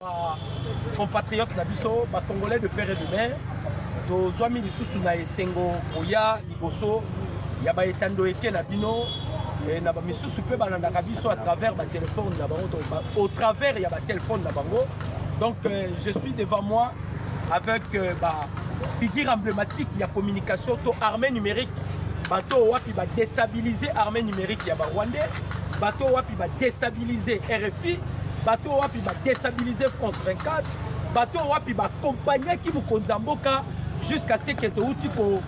Ba compatriotes na biso ba congolais de père et de mère tozwami lisusu na esengo koya liboso ya baetando eke na bino eh, na bamisusu mpe balandaka biso à travers batelefone na bango au travers ya batelefone na bango donc euh, je suis devant moi avec euh, ba figure emblématique ya communication to armée numérique bato oyo wapi badestabilize armée numérique ya barwandais bato wapi ba destabiliser RFI bato wapi ba destabiliser France 24 bato wapi ba accompagnaki mokonzi ya mboka jusqu'à ce que touti ko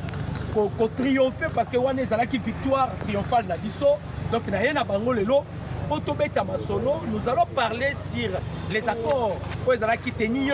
ko, ko triompher parce que wana ezalaki victoire triomphale na biso donc na ye na bango lelo mpo tobeta masolo nous allons parler sur les accords oyo ezalaki tenu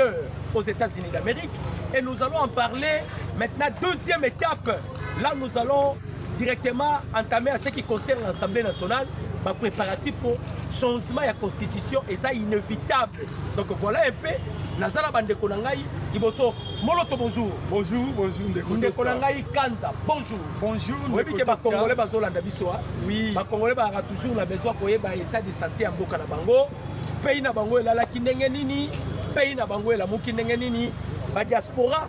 aux États-Unis d'Amérique et nous allons en parler maintenant deuxième étape Là, nous allons directement entamer à ce qui concerne l'Assemblée nationale, ma préparatif pour changement ya constitution et ça inévitable. Donc voilà un peu nazala bandeko na ngai liboso moloto bonjour bonjour bonjour ndeko ndeko na ngai kanza bonjour bonjour oyebi ke bakongole bazolanda biso a oui bakongole bazalaka toujours na besoin koyeba état de santé ya mboka na bango pays na bango elalaki ndenge nini pays na bango elamuki ndenge nini badiaspora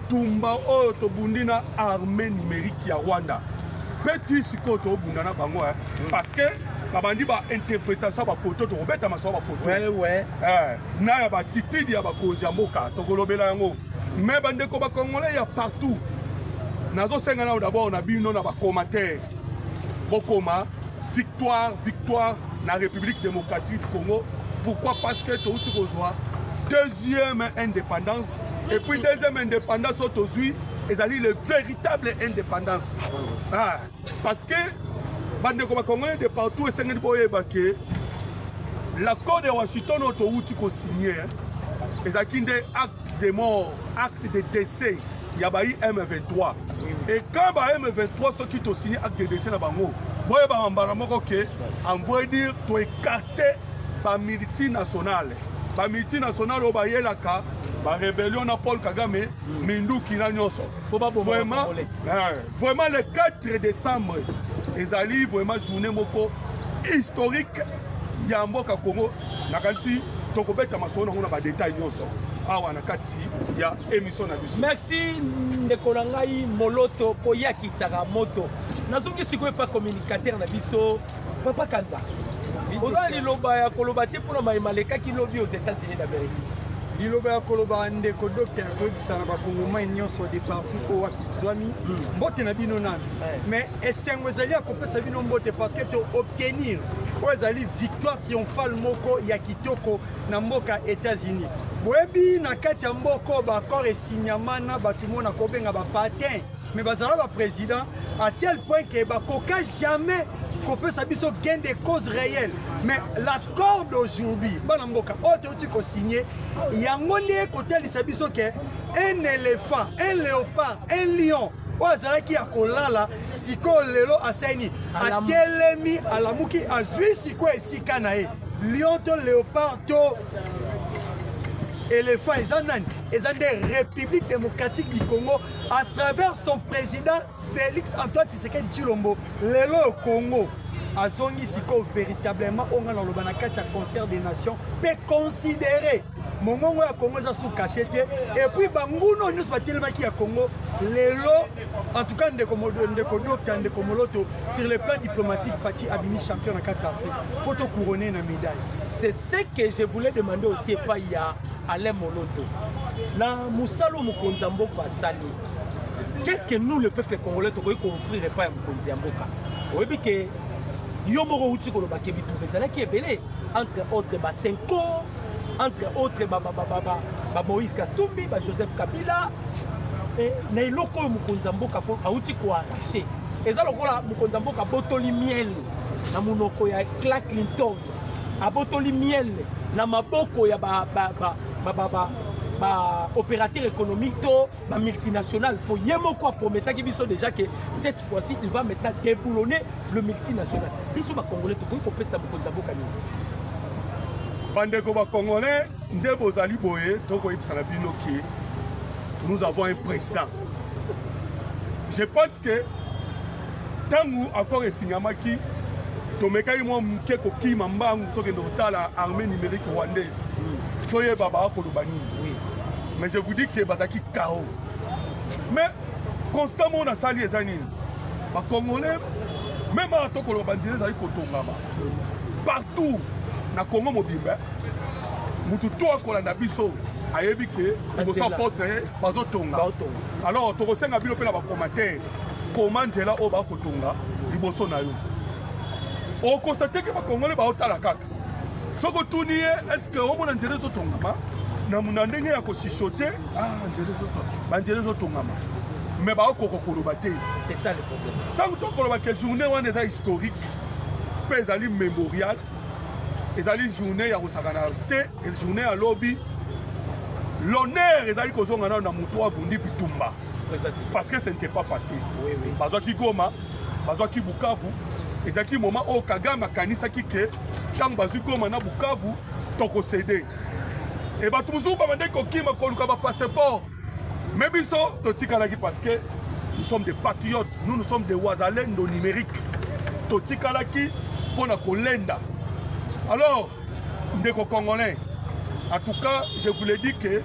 Tumba oyo tobundi na armée numérique ya Rwanda mpe ti sikoyo tobunda na bango eh. mm. parce que babandi bainterpretation ya bafoto tokobeta masolo bafoto eh, na ya batitidi ya bakonzi ya mboka tokolobela yango me bandeko bakongole ya partout nazosenga nao dabord na bino na bacommentaire bokoma victoire victoire na république démocratique du congo pourquoi parce que touti kozwa deuxième indépendance Et puis deuxième indépendance oyo tozwi ezali le véritable indépendance ah, parce que bandeko bacongolais de partout esengeli boyeba ke l'accord de washington oyo towuti kosigne ezalaki nde acte de mort acte de décès ya bayi m23 et quand ba m23 soki tosigne acte de décès na bango boyebaka mbala moko ke envoye dire toekarte ba multinationale ba multinationale oyo bayelaka ba rébellion na Paul Kagame mm. minduki na nyonso vraiment eh, vraiment le 4 décembre ezali vraiment journée moko historique ya mboka Congo nakanisi tokobeta masolo nango na ba détail nyonso awa na kati ya émission na biso merci ndeko na ngai moloto koyakitsaka moto nazongi sikoyo epa communicateur na biso papa kanza oza liloba ya koloba te mpona maye malekaki lobi aux états-unis d'amérique liloba ya koloba ndeko docteur koyebisa na bakongomai nyonso de partout oyo wapi tozwami hmm. mbote na bino nani mais esengo ezali ya kopesa bino mbote parce que to obtenir oyo ezali victoire triomphale moko ya kitoko na mboka états-unis boyebi na kati ya mboko baaccord esinyama na bato mona kobenga bapatin mais bazala ba président à tel point que bakoka jamais kopesa biso gain de cause réelle mais l'accord d'aujourd'hui bana mboka oyo touti kosigne yango nde kotalisa biso ke un éléphant un léopard un lion oyo azalaki ya kolala sikoyo lelo asaini atelemi alamuki azwi sikoyo esika na ye lion to léopard to éléphant eza nani eza nde république démocratique du congo à travers son président Félix Antoine Tshisekedi Tshilombo lelo Congo azongi sikoyo véritablement oyo ngai naloba na kati ya concert des nations mpe considéré mongongo ya congo eza sous cache te epuis banguna oyo nyonso batelemaki ya congo lelo en tout cas ndeko ndeko dokta ndeko moloto sur le plan diplomatique pati abimi champion na kati ya afrique mpo tocourone na médaille c'est ce que je voulais demander aussi epai ya alain moloto na mosala oyo mokonzi ya mboka asali qu'est-ce que nous le peuple congolais tokoki koofrir epai ya mokonzi ya mboka oyebi ke yo moko outi koloba ke bitumba ezalaki ebele entre autres basenko entre autres bamoïse katumbi bajoseph kabila eh, na eloko oyo mokonzi ya mboka auti koarrache eza lokola mokonzi ya mboka botoli miel na monoko ya cla clinton abotoli miel na maboko ya ba, ba, ba, ba, ba, ba, ba opérateur économique to ba multinational po ye moko aprometaki biso déjà que cette fois-ci il va maintenant déboulonner le multinational biso ba congolais tokoki kopesa mokonzi ya boka nini bandeko ba congolais nde bozali boye tokoyebisa na bino ke nous avons un président je pense que Ntango akor esingamaki, tomekaki mwa moke kokima mbangu tokende kotala armée numérique rwandaise toyeba baa koloba nini mais je vous dis que bazalaki kao mais constat moko nasali eza nini bacongolais meme awa tokoloba banzela ezali kotongama partout na congo mobimba motu to akolanda biso ayebi ke liboso ya porte na ye bazotonga alors tokosenga bino mpe na bacommentaire koma nzela oyo bakotonga liboso na yo okosa teke bakongole baotala kaka soki otuni ye eske omona nzela ezotongama na ndenge ya kosisote ah, banzela ezotongama me baokoka koloba te ntango tokoloba ke journée wana eza historique mpe ezali mémorial ezali journée ya kosakana te journée ya lobi l'honneur ezali kozonga nano na moto abundi bitumba parce que ce n'était pas facile oui, oui. bazwaki goma bazwaki bukavu ezalaki moment oyo kagame akanisaki ke ntango bazwi goma na bukavu tokosede e bato mosusu babandaki kokima koluka bapasseport me biso totikalaki parce que nous sommes des patriotes nous nous sommes des wazalendo numérique totikalaki mpo na kolenda alors ndeko congolais en tout cas je vous le dis que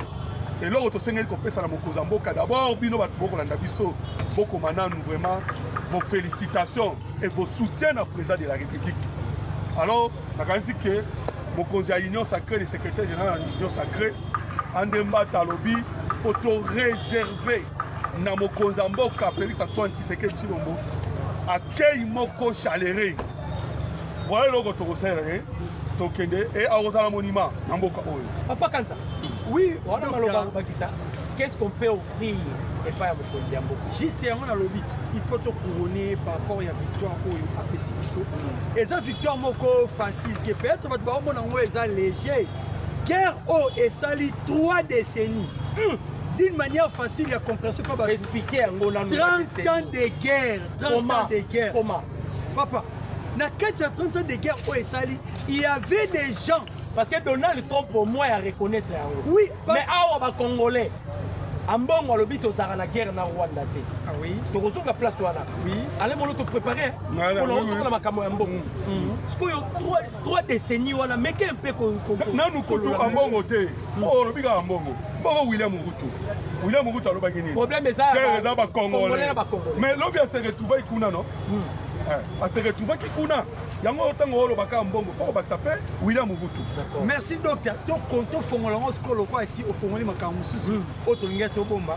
eloko tosengeli kopesa na mokonzi ya mboka d'abord bino bato bokolanda biso bokoma nanu vraiment vos félicitations et vos soutiens na président de la république alors nakanisi ke mokonzi ya union sacré le secrétaire général ya union sacré andembata alobi faut to réserver na mokonzi ya mboka félix antoine tshisekedi tshilombo akei moko chalere Voilà eloko tokosalela ye tokende e akozala monima na mboka oyo. Papa Kanza. Oui, wana maloba bakisa. Qu'est-ce qu'on peut offrir epai ya mokonzi ya mboka juste yango nalobi ti il faut tocourone par rapport ya victoire oyo apesi biso eza victoire moko facile ke peut-être bato baomona yango eza léger guerre oyo esali 3 décennies mm. d'une manière facile ya compréhension mpo baexplike yango nanu 30 ans de guerre 30 comment? ans de guerre comment Papa, na kati ya 30 ans de guerre oyo esali, il y avait des gens parce que Donald Trump au moins a reconnaître yango. Oui, pa... mais awa ba congolais ambongo alobi tozalaka na guerre na rwanda te ah oui. tokozonga place wana oui. ale molo toprépare mpo na kozonga na makambo ya mbongo mm. mm. sikoyo trois décennies wana meke mpe nanu kutu ambongo te po olobi kaka mbongo mbongo william ruto william ruto alobaki nini problème eza eza bacongolais mais lobi ase retrouve kuna no hmm. eh, ase retrouvaki kuna yango ntango olobaka mbongo fo kobakisa mpe william ruto merci docteur tofongola yango sikoyo lokola esi ofongoli makambo mosusu hmm. oyo tolingaki tobomba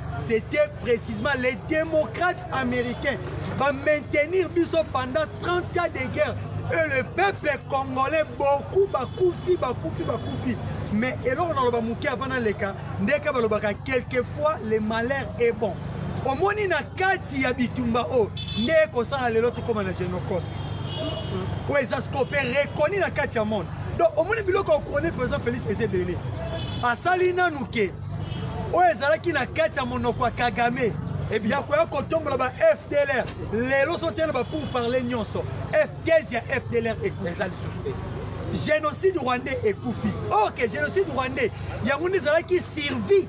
C'était précisément les démocrates américains va maintenir biso pendant 30 ans de guerre et le peuple congolais beaucoup bakufi bakufi bakufi mais eloko naloba moke avant naleka ndeka balobaka quelquefois le malheur est bon omoni na kati ya bitumba oyo oh, nde ekosala lelo tokóma na genocost oyo eza scope reconi na kati ya monde donc omoni biloko ya couronne président félix eza ebele asali nanu ke oyo ezalaki na kati ya monoko ya kagame ya koya kotombola ba fdlr lelo sotena ba pour parler nyonso thèse ya fdlr eza lisusu te génocide rwandais ekufi or ke génocide rwandais yango nde ezalaki survie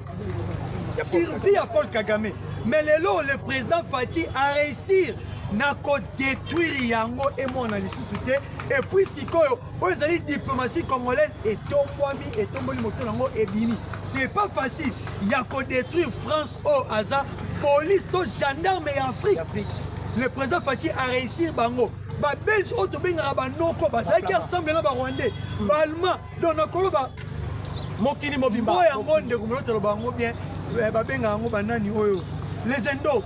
survie ya paul kagame mais lelo le président fati a réussir na kodétruire yango emona lisusu te epuis sikoyo oyo ezali diplomatie congolaise etombwami etomboli moto nango ebimi c'est pas facile ya kodétruire france oyo oh, aza police to gendarme ya afrique le président faci aréussir bango babelge oyo oh, tobengaka banoko bazalaki ensemble na barwandais hmm. baalmand donc nakoloba mokili mobimba oyo yango ndeko molotaloba yango bien eh, babengaka yango banani oyo les indo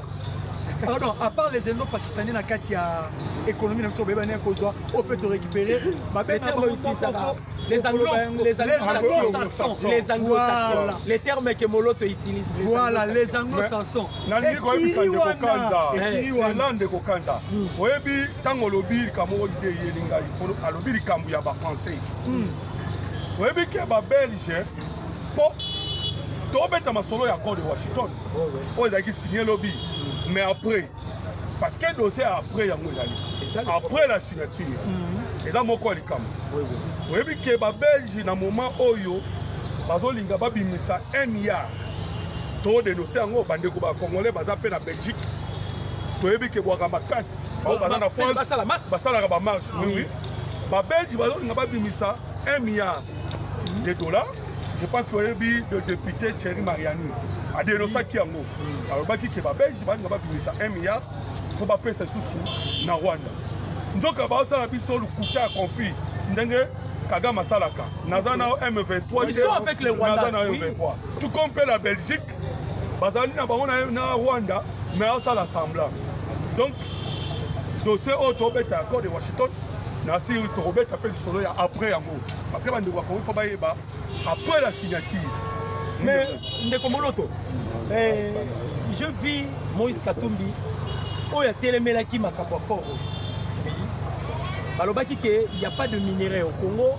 Pardon, à part les ennemis pakistanais na kati ya économie na biso bayebani kozwa on peut te récupérer babe na bango tokoko les anglo-saxons les anglo-saxons les termes que moloto utilise voilà les anglo-saxons nalingi koyebisa ndeko kanza ela ndeko kanza oyebi ntango olobi likambo oyo ide eyeli ngai alobi likambo ya bafrançais oyebi ke babelge mpo tobeta masolo ya accord de washington oyo ezalaki signe lobi mais après parce que dossier après yango ezali après la signature mhm. eza moko ya likambo oyebi ke babelge na moment oyo bazolinga babimisa un milliard to denonse yango bandeko bacongolais baza mpe na belgique toyebi ke bwaka makasi bango baza na france basalaka bamarche oui babelge bazolinga babimisa un milliard de dola je pense koyebi le député thierry mariani adenosaki yango alobaki ke babelge balinga babimisa 1 milliard mpo bapesa lisusu na rwanda nzoka baosala biso lokuta ya conflit ndenge kagame asalaka naza na m23 naza na m23 tout comme mpe la belgique bazali na bango na rwanda me asala semblant donc dossier oyo tobeta ya code de washington nasi tokobeta mpe lisolo ya après yango parce que bandeko bakongi fo bayeba après la signature mais ndeko moloto eh, je vis moïse katumbi oyo atelemelaki makambo ya koro balobaki ke il n'y a pas de minerai au congo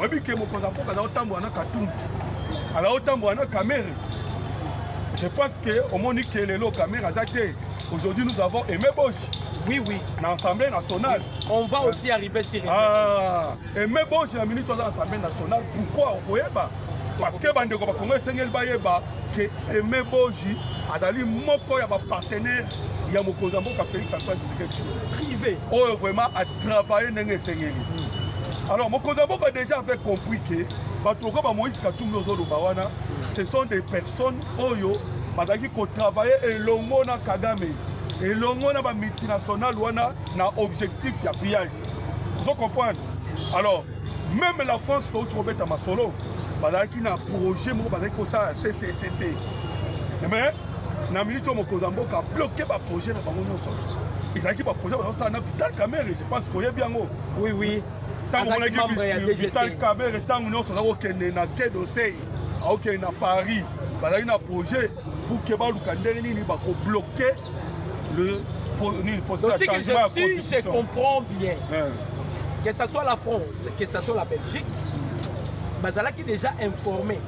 oyebi ke mokonzi ya mboka azaotambola na katumbi azaotambola na kamere je pense que omoni ke lelo kamere aza te aujourd'hui nous avons aimé boshi oui oui na assemblée nationale on va aussi arriver sur ah, aimé boshi na ministre aza assemblée nationale pourquoi okoyeba parce que bandeko bakongo esengeli bayeba ke Aime Boji azali moko ya bapartenaire ya mokonzi ya mboka Felix Antoine Tshisekedi Tshilombo privé oyo vraiment atravaille ndenge esengeli hmm. alors mokonzi ya mboka déjà avait compris ke bato lokola ba Moïse Katumbi ozoloba wana ce sont des personnes oyo bazalaki kotravaille elongo na Kagame elongo na ba multinationale wana na objectif ya pillage ozo comprendre alors meme la france touti kobeta masolo bazalaki na projet moko bazalaki kosala cccc mais na miniti oyo mokonzi ya mboka abloke baprojet na bango nyonso ezalaki baprojet bazosala na vital camere je pense koyebi yango oui oui ntango omonaki vital camere ntango nyonso aza kokende na quai d'oseil akokende na paris bazalaki na projet pour ke baluka ndenge nini bakobloke Le, pour, nini, pour Donc, ce que je, si je comprends bien, hein. que ce soit la France, que ce soit la Belgique, bazalaki déjà informé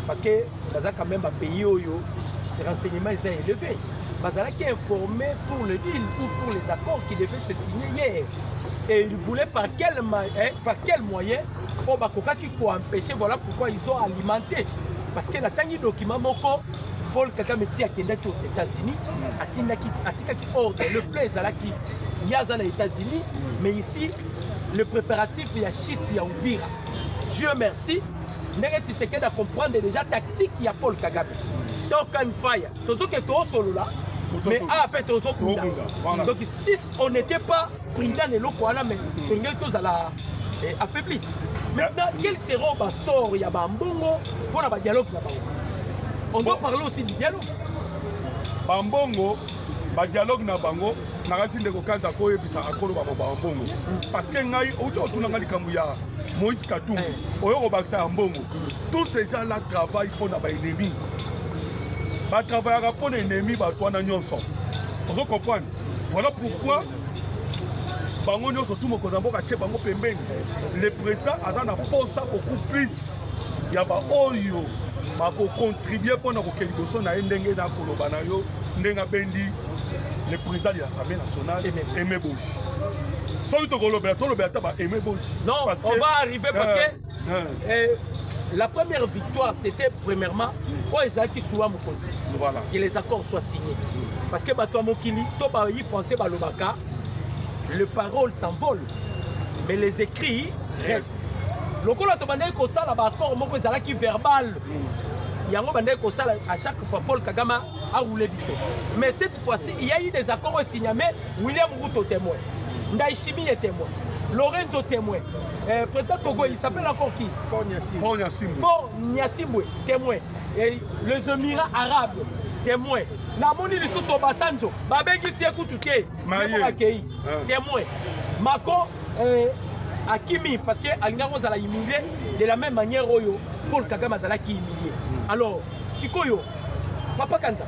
parce que baza quand même bapays oyo renseignement eza élevé bazalaki informé pour le deal ou pour les accords qui devaient se signer hier et ils voulaient par quel, hein, par quel moyen oyo oh, bakokaki koempêche voilà pourquoi ils ont alimenté parce que natangi document moko Paul Kagame ti akendaki aux États-Unis, atindaki atikaki ordre, le plan ezalaki ye aza na États-Unis, mais ici le préparatif ya chute ya Uvira. Dieu merci, ndenge Tshisekedi a comprendre déjà tactique ya Paul Kagame. Talk and fire, tozoke toosolola mais awa mpe tozokunda donc si on n'était pas prudent na eloko wana mais tongei tozala Et affaibli. Maintenant, quel sera le sort Il y a Bambongo pour le dialogue On doit parler aussi du dialogue. Bambongo, le dialogue na bango, nakasi ndeko kanza koyebisa akoloba ba bambongo parce que ngai outi otuna ngai likambo ya moïse katumbi eh. oyo kobakisa ya mbongo tous ces gens là travaille mpo na baennemi batravaillaka mpo na ennemi bato wana nyonso ozo comprendre Voilà pourquoi bango nyonso tu mokonzi ya mboka atie bango pembeni le président aza na mposa beaucoup plus ya baoyo bakocontribue mpo na kokende liboso na ye ndenge na koloba na yo ndenge abendi le président de l'assemblée nationale aime boji soki tokolobela tolobela ata ba aime boji non on va arriver parce que euh, Eh, la première victoire, c'était premièrement, oh, Isaac Soua Mokondi. Voilà. Que les accords soient signés. Parce que Batoa Mokili, Toba Yi français, Balobaka, les paroles s'envolent, mais les écrits restent. lokola tobandaki kosala baaccord moko ezalaki verbal yango bandaki kosala à chaque fois paul kagame aroule biso mais cette fois-ci il y a eu des accords oyo signame William Ruto témoin. Ndaishimie témoin. Lorenzo témoin. Euh, président Togo, il s'appelle encore qui Fort Nyasimbwe. Fort Nyasimbwe. Fort Nyasimbwe, témoin. Et les Émirats arabes, témoin. namoni lisusu obasanjo babengisi ye kutu te akei ah. témoin mako euh, akimi parce que alingaki kozala humilie de la même manière oyo paul kagame azalaki humilie alors sikoyo papa kanza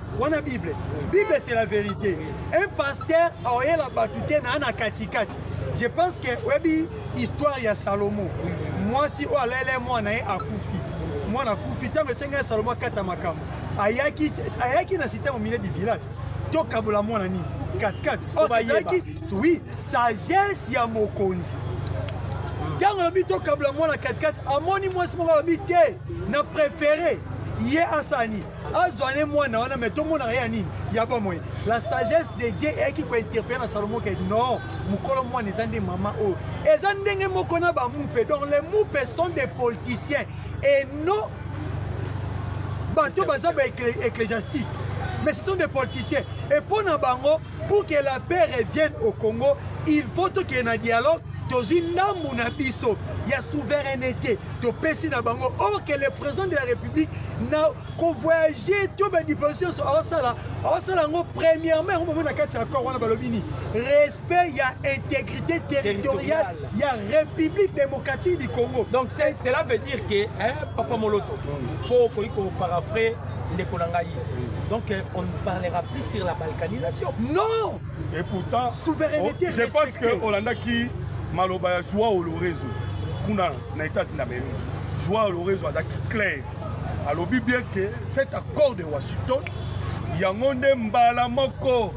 wana bible bible c'est la vérité un pasteur aoyela bato te naa na katikati je pense que oyebi histoire ya salomo mwasi oyo alaela mwana ye akufi mwana akufi ntango esengi ya salomo akata makambo ayaki, ayaki na système au milieu du village tokabola mwana nini katikati or ezalaki oui sagesse ya mokonzi ntango alobi tokabla mwana katikati amoni mwasi moko alobi te na prefere ye asani azwa ne mwana wana me tomonaka ya nini ya bomoi la sagesse de dieu eyaki kointerpele na salomo ke non mokolo mwana eza nde mama oyo eza ndenge moko na bamupe donc les mupe sont des politiciens et non bato baza ba ecclésiastique mais ce sont des politiciens et mpo na bango Pour que la paix revienne au Congo, il faut tokende na dialogue tozwi ndambu na biso ya souveraineté topesi na bango or que le président de la république na kovoyage to badiplomatie nyonso aosala aosala yango premièrement yango bomoi na kati ya accord wana balobi nini respect ya intégrité territoriale ya république démocratique du congo donc cela veut dire que papa moloto po okoki koparafre ndeko na ngai donc euh, on ne parlera plus sur la balkanisation non et pourtant souveraineté oh, je pense que olandaki maloba ya joao lorenzo kuna na états-unis d'amérique joao lorenzo azalaki claire alobi bien que cet accord de washington yango nde mbala moko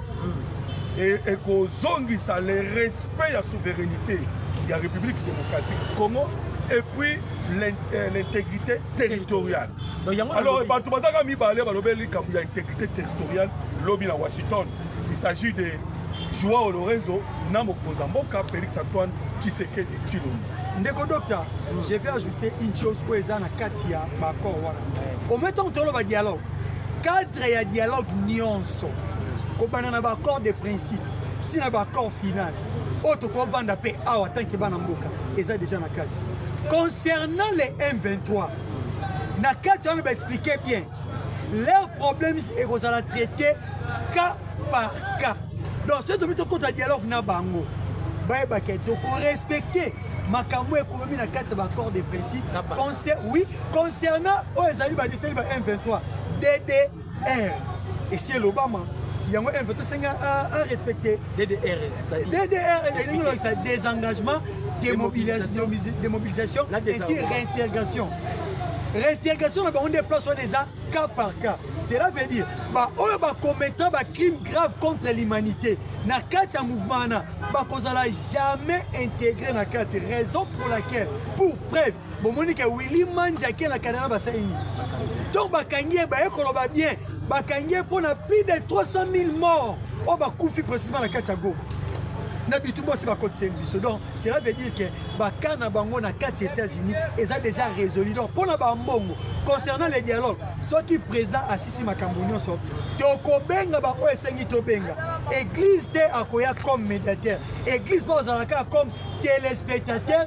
ekozongisa le respect ya souveraineté ya république démocratique du congo et puis euh, l'intégrité territoriale Alors, bato bazaka mibale balobeli likambo ya intégrité territoriale lobi na Washington. Il s'agit de Joao Lorenzo na mokonzi ya mboka Felix Antoine Tshisekedi Tshilombo. Ndeko docteur, je vais ajouter une chose oyo eza na kati ya baaccord wana. Au même temps toloba dialogue, cadre ya dialogue nyonso kobanda na baaccord de principe ti na baaccord final oyo tokovanda mpe awa tanke bana mboka eza deja na kati concernant les M23 na kati wana ba expliquer bien leurs problèmes ekozala traité cas par cas donc soki tomi tokota dialogue na bango bayebaka tokorespecte makambo ekomi na kati ya baaccord de principe oui concernant oyo ezali badetali ba m23 dd eh esi elobama yango mpe tosengi arespecte ddrsa désengagement démobilisation ainsi réintégration réintégration na bango nde place wana eza cas par cas cela veut dire baoyo bacommettant bacrime grave contre l'humanité na kati ya mouvement wana bakozala jamais intégré na kati raison pour laquelle pour preuve bomoni ke willi manzi ake na canada basali nini ntango bakangi ye baye koloba bien bakangi ye mpo na plus de 300 000 mort oyo bakufi précisement na kati ya goma na bitumba osi bakotisa biso donc cela veut dire ke baka na bango na kati ya états-unis eza déjà résolu donc mpo na bambongo concernant le dialogue soki président asisi makambo nyonso tokobenga baoyo esengi tobenga église te akoya comme médiateur église baozala kaka comme téléspectateur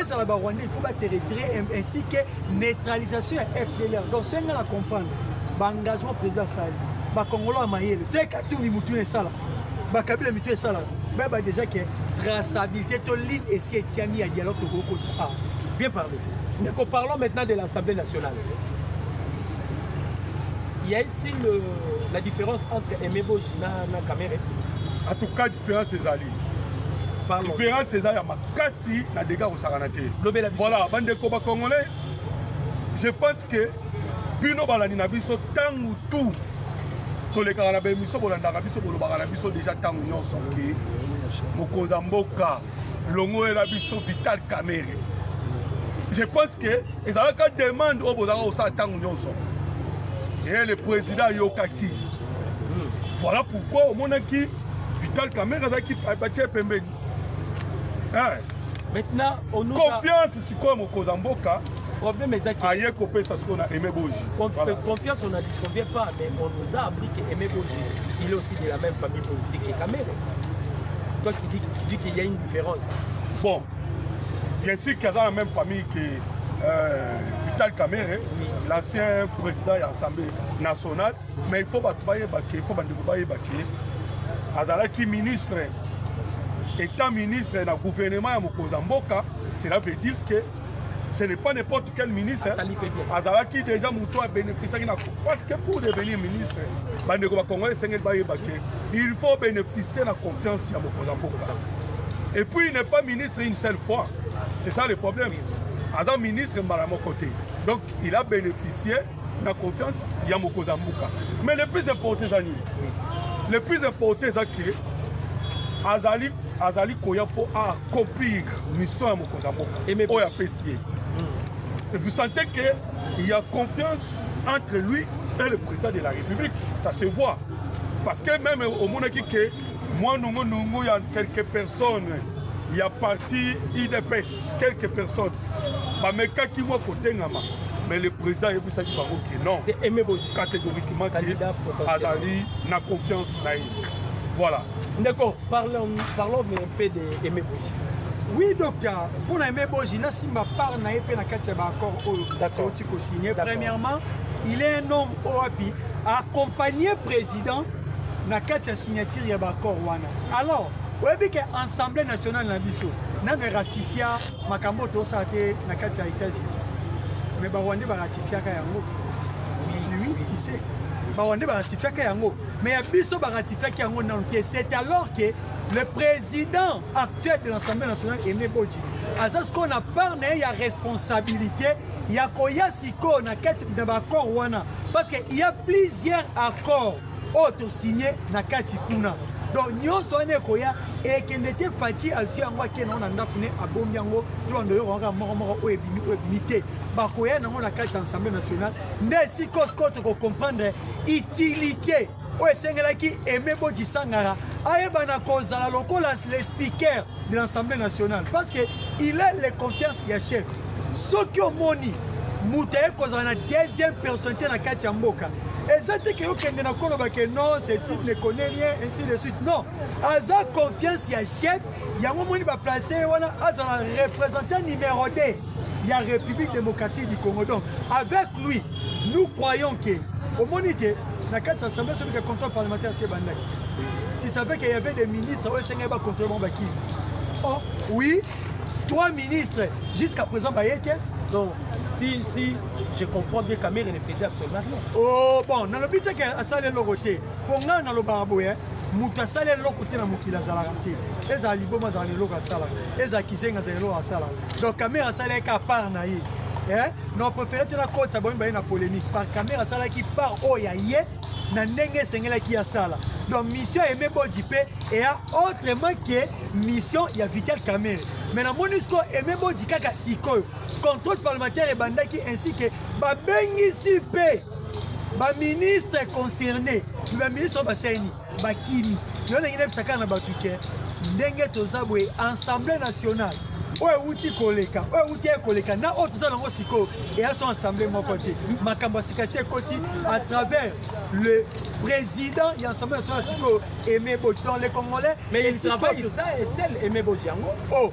ezala ba rwandais il faut ba se retirer ainsi que neutralisation ya fdlr donc soki ngai na comprendre baengagement président asali bakongolo ya mayele soki katumbi motu na esala bakabila mitu esalaka bayeba déjà ke traçabilité to ligne esi etiami ya dialogue tokoki kota awa bien parlé ndeko parlons maintenant de l'assemblée nationale y a-t-il euh, la différence entre emeboji na, na kamere en tout cas différence ezali différence eza ya makambo kasi na dega kosakana te voilà bandeko ba congolais je pense que bino balandi na biso ntango tout tolekaka na baemission bolandaka biso bolobaka na biso deja ntango nyonso ke mokonzi ya mboka longolela biso vital camere je pense que ezalaka demande oyo bozalaka kosala ntango nyonso e le président ayokaki voilà pourquoi omonaki vital camere azalaki batie pembeni Eh. Maintenant, on nous confiance a... sikoyo mokonzi ya mboka problème ezaki aye kopesa sikoyo na aime boji euh, confiance on a dit qu'on vient pas mais on nous a appris que aime boji il est aussi de la même famille politique que kamere toi qui dis, qui dis qu'il y a une différence bon bien sûr qu'il y a dans la même famille que euh, vital kamere oui. l'ancien président ya assemblée nationale mais il faut bato bayeba ke il faut bandeko bayeba ke azalaki ministre étant ministre na gouvernement ya mokonzi ya mboka cela veut dire que ce n'est pas n'importe quel ministre azalaki déjà moto abénéficiaki na parce que pour devenir ministre bandeko bakongole esengeli bayeba ke il faut bénéficier na confiance ya mokonzi ya mboka et puis il n'est pas ministre une seule fois c'est ça le problème aza ministre mbala moko te donc il a bénéficié na confiance ya mokonzi ya mboka mais le plus important eza nini le plus important eza ke azali azali koya mpo accomplir mission ya mokonzi ya mboka oyo apesi ye hmm. vous sentez que il y a confiance entre lui et le président de la république ça se voit parce que même omonaki ke mwa nongonongo ya quelques personnes ya parti idps quelques personnes bamekaki mwa kotengama mais le président ayebisaki bango ke non catégoriquement ke azali na confiance na ye voilà ndeko parlons un peu de aimé boji oui docteur mpo na aimé boji nasimba part na ye mpe na kati ya baaccord oyo touti kosigne premièrement il est un homme oyo api accompagne président na kati ya signature ya baaccord wana alors oyebi ke assemblée nationale na biso nanga ratifia makambo oyo tosala te na kati ya états-unis mais barwandais baratifiaka yango tise barwandais baratifiaka yango mais ya biso baratifiaki yango nano te c'est alors que le président actuel de l'assemblée nationale aimé boji aza sikoyo na part na ye ya responsabilité ya koya sikoyo na kati na baaccord wana parce que il y a plusieurs accords oyo tosigne na kati kuna donc nyonso wana ekoya ekende te fati azwi yango ake nango na ndako ne abombi yango tolanda oyo kaka moko moko oyo ebimi oyo ebimi te bakoya nango na kati ya assemblée nationale nde sikosiko tokocomprendre utilité oyo esengelaki aime bodisangara ayebana kozala lokola le speaker de l'assemblée nationale parce que il est le confiance ya chef soki omoni moto aye kozala na deuxième personnalité na kati ya mboka eza te ke okende na koloba ke non ce type ne connaît rien ainsi de suite non aza confiance ya chef yango omoni baplace ye wana azala représentant numéro 2 ya république démocratique du congo donc avec lui nous croyons ke omoni te na kati ya assemblée soki ke contrôle parlementaire si ebandaki tu savais qu'il y avait des ministres oyo esengeli bacontrôle bango bakii oh oui Trois ministres jusqu'à présent baye te. Donc si si je comprends bien Kamerhe ne faisait absolument rien. Oh bon, nalobi te ke asali eloko te. Mpo ngai nalobaka boye moto asali eloko te na mokili azalaka te ezala liboma azala na eloko asalaka ezala kizenga azala eloko asalaka donc kamere asalaki ka part na ye eh? na préféré te nakotisa boyemba ye na polémique par kamere asalaki part oyo ya ye na ndenge esengelaki asala donc mission ya aime boji mpe eya autrement ke mission ya vital camere mais namoni siko aime boji kaka sikoyo contrôle parlementaire ebandaki ainsi ke babengisi mpe baministre concerné baministre oyo basali nini bakimi yo ndenge nayebisa kaka na bato ke ndenge toza boye assemblée nationale oyo euti koleka oyo euti ye koleka na oyo toza nango sikoyo eya so assemblée moko te makambo ya sikasi ekoti à travers le président ya assemblée nationale sikoyo aimé boji dans le congolais mais il travaille seul aimé boji yango oh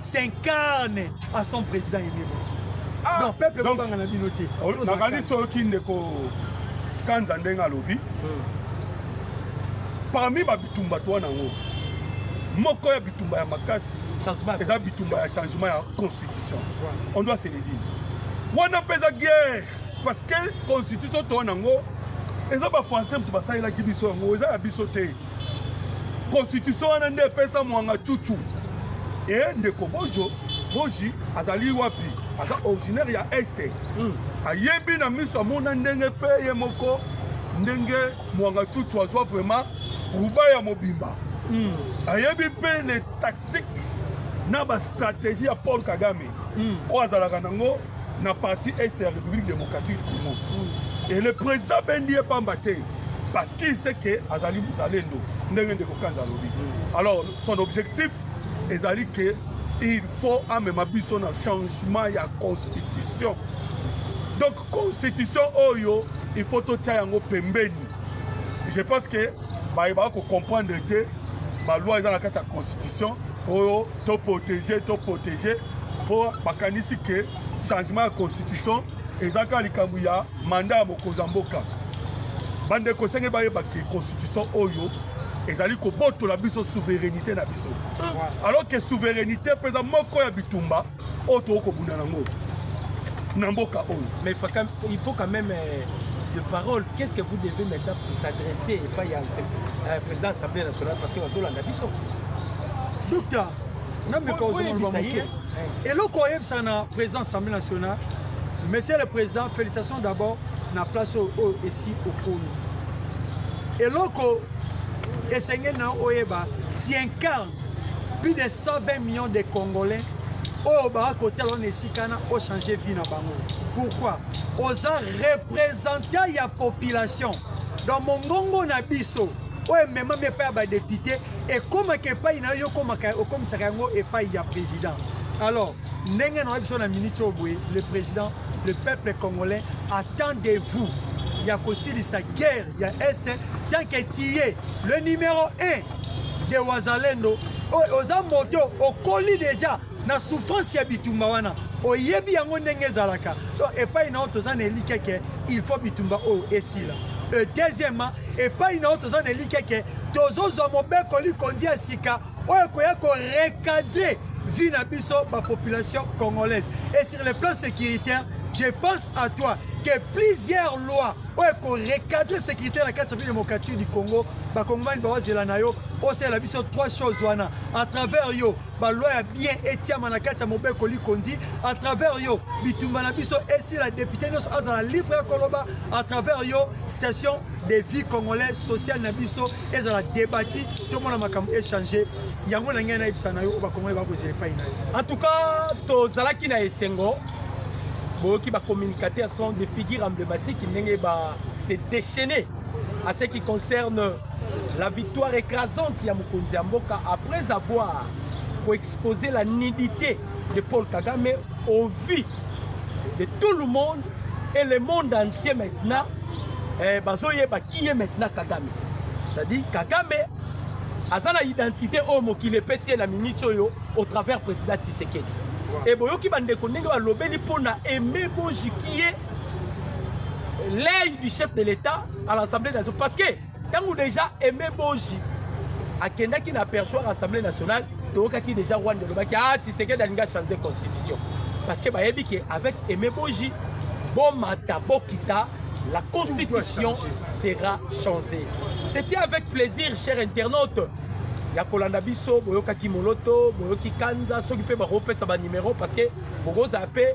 s'incarne à son président Aimé ah, donc peuple kobanga na bino te oh, nakani soki ndeko kanza ndenge alobi hmm. parmi babitumba to wana yango moko ya bitumba ya makasi eza bitumba ya changement ya constitution on doit se le dire wana mpe eza guerre parce que constitution to wana yango eza bafrançais moto basalelaki biso yango eza ya biso te Constitution wana nde epesa mwanga chuchu. Eh ndeko bojo boji azali wapi aza originaire ya este mm. ayebi na miso amona ndenge mpe ye moko ndenge mwanga chuchu azwa vraiment ruba ya mobimba mm. ayebi mpe le tactique na bastratégie ya paul kagame mm. oyo azalaka nango na parti est ya république démocratique congo mm. et le président bendi ye pamba te parce qu'il sait que azali mozalendo ndenge ndeko kanza alobi mm. alors son objectif ezali que il faut amema biso na changement ya constitution donc constitution oyo il faut totya yango pembeni je pense que baye baa kocomprendre te baloi eza na kati ya constitution oyo to protege to protege mpo bakanisi ke changement ya constitution eza kaka likambo ya manda ya mokonzi ya mboka bandeko esenge bayeba ke constitution oyo ezali kobotola biso souveraineté na biso alors ke souveraineté mpenza moko ya bitumba oyo tokoki kobunda nango na mboka oyo mais il faut quand même euh, de parole qu'est ce que vous devez maintenant s'adresser epai ya euh, président assemblée nationale parce que bazolanda biso Docteur, eloko oyebisa na président assemblée nationale monsieur le président félicitations d'abord na place oyo oh, oh, esi okomi eloko esengeli na oyeba tiencarne plus de 120 millions de congolais oyo oh, baka kotala na esika na ochange vie na bango pourquoi oza représentant ya population donc mongongo na biso oyo ememami epai ya badepute ekomaka epai na yo okomisaka yango epai ya président alors ndenge na biso na minute oyo boye le président le peuple congolais attend de vous ya kosilisa guerre ya est tant que tiye le numéro 1 de wazalendo oyo oza moto okoli deja na souffrance ya bitumba wana oyebi yango ndenge ezalaka donc epai na yo toza na elikya ke il faut bitumba oyo esila e deuxièmement epai na yo toza na elikya ke tozozwa mobeko likonzi ya sika oyo ekoya korecadre vie na biso bapopulation congolaise et sur le plan sécuritaire je pense à toi que plusieurs lois oyo ekorecadre sécurité na kati ya bino démocratique du congo bakongomani bawazela na yo osalela biso trois choses wana à travers yo ba loi ya bien etiama na kati ya mobeko likonzi à travers yo bitumba na biso esila député nyonso azala libre ya koloba à travers yo station de vie congolais sociale na biso ezala debati tomona makambo échange yango na ngai nayebisa na yo oyo bacongolais bakozela epai na yo en tout cas tozalaki na esengo boyoki bacommunicateur sont de figure emblématique ndenge ba se déchaîner à ce qui concerne La victoire écrasante ya mokonzi ya mboka après avoir koexposer la nudité de Paul Kagame au vu de tout le monde et le monde entier maintenant eh, bazoyeba qui est maintenant Kagame c'est-à-dire Kagame aza na identité oyo mokili epesi ye na minute oyo au travers président Tshisekedi et boyoki bandeko ndenge balobeli mpo na aime bojikie l'œil du chef de l'État à l'Assemblée nationale. Parce que tant que déjà Aimé Boji a kendaki na perçoit l'Assemblée nationale, tokaki déjà Rwanda lobaki ah Tshisekedi alinga changer constitution. Parce que bayebi que avec Aimé Boji, bomata bokita la constitution sera changée. C'était avec plaisir, chers internautes. ya kolanda biso boyokaki moloto boyoki kanza soki mpe bakopesa banimero parce que bokozala mpe